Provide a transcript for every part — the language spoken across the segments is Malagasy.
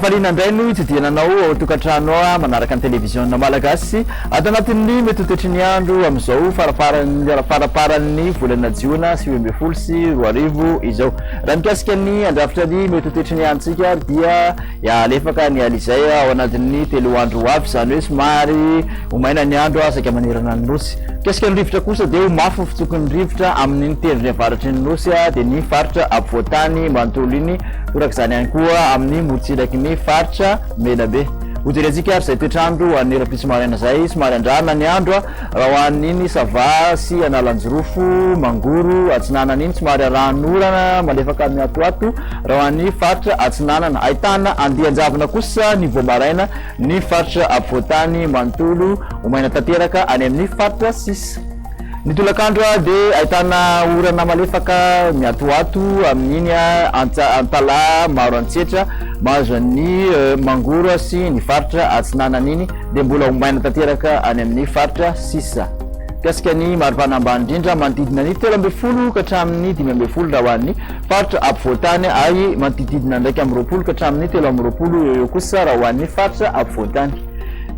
Rafalina indray no itsidihana anao ao tokantrano ao manaraka ny televiziona malagasy ato anatin'ny mety ho toetry ny andro amin'izao farafaran'ny faraparan'ny volana jiona sy roa ambin'ny folo sy roa arivo izao. Raha mikasika ny andrafitra ny mety ho toetry ny antsika dia Hialefaka ny alizay ao anatin'ny telo andro ho avy, izany hoe somary ho maina ny andro saika manerana ny Nosy. Mikasika ny rivotra kosa dia ho mafy ny fitsoky ny rivotra amin'iny tendrony avaratry ny Nosy dia ny faritra afovoantany manontolo iny, toraka izany ihany koa amin'ny morotsiraky ny faritra Menabe. Hojerentsika ary izay toetr'andro ho an'ny rahampitso maraina izay, somary andrarana ny andro raha ho an'iny Sava sy Analanjirofo, Mangoro, Atsinanana iny, somary arahan'orana malefaka mihatohato. Raha ho an'ny faritra Atsinanana, ahitana andian-javona kosa ny vao maraina ny faritra afovoan-tany manontolo ho maina tanteraka any amin'ny faritra sisa. Ny tolakandro dia ahitana orana malefaka miatoato amin'iny an-tsalahy maro antsetra mahazo an'ny mangoro sy ny faritra Atsinanana iny dia mbola ho maina tanteraka any amin'ny faritra sisa. Mikasika ny maripana ambany indrindra manodidina ny telo ambin'ny folo ka hatramin'ny dimy ambin'ny folo raha ho an'ny Faritra ampovoan-tany ary manodidididina andraika amby roapolo ka hatramin'ny telo amby roapolo eo eo kosa raha ho an'ny faritra afovoan-tany.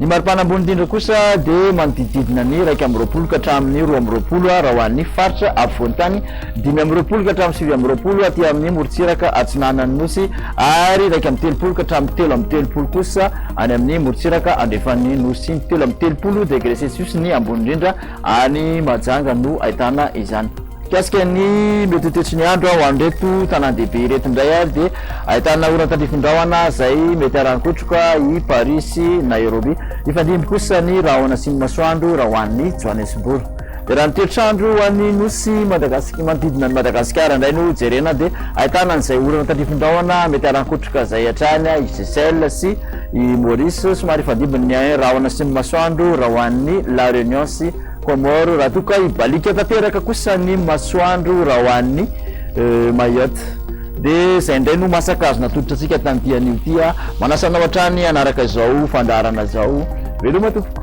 Ny maripana ambony indrindra kosa dia manodidididina ny iraika amby roapolo ka hatramin'ny roa amby roapolo ha raha ho an'ny faritra afovoan-tany, dimy amby roapolo ka hatramin'ny sivy amby roapolo aty amin'ny morontsiraka atsinanan'ny Nosy ary iraika amby telopolo ka hatramin'ny telo amby telopolo kosa any amin'ny morontsiraka andrefan'ny Nosy. Telo amby telopolo degre celsius ny ambony indrindra any Mahajanga no ahitana izany. Mikasika ny mety ho toetry ny andro ho an'ireto tanàn-dehibe ireto indray ary dia ahitana orana tandrifin-drahona izay mety haran-kotroka i Paris sy Nairobi. Hifandimby kosa ny rahona sy ny masoandro raha ho an'i Johannesburg. Dia raha ny toetr'andro ho an'ny nosy Madagasikara, manodidina an'i Madagasikara indray no jerena dia ahitana an'izay orana tandrifin-drahona mety haran-kotroka izay hatrany i Seychelles sy i Maurice. Somary hifandimby ny rahona sy ny masoandro raha ho an'i La Réunion sy Comores, raha toa ka hibaliaka tanteraka kosa ny masoandro raha ho an'ny Mayotte dia izay indray no masaka azo natolotra antsika tamin'ity anio ity. Manasa anao hatrany hanaraka izao fandaharana izao. Veloma tompoko.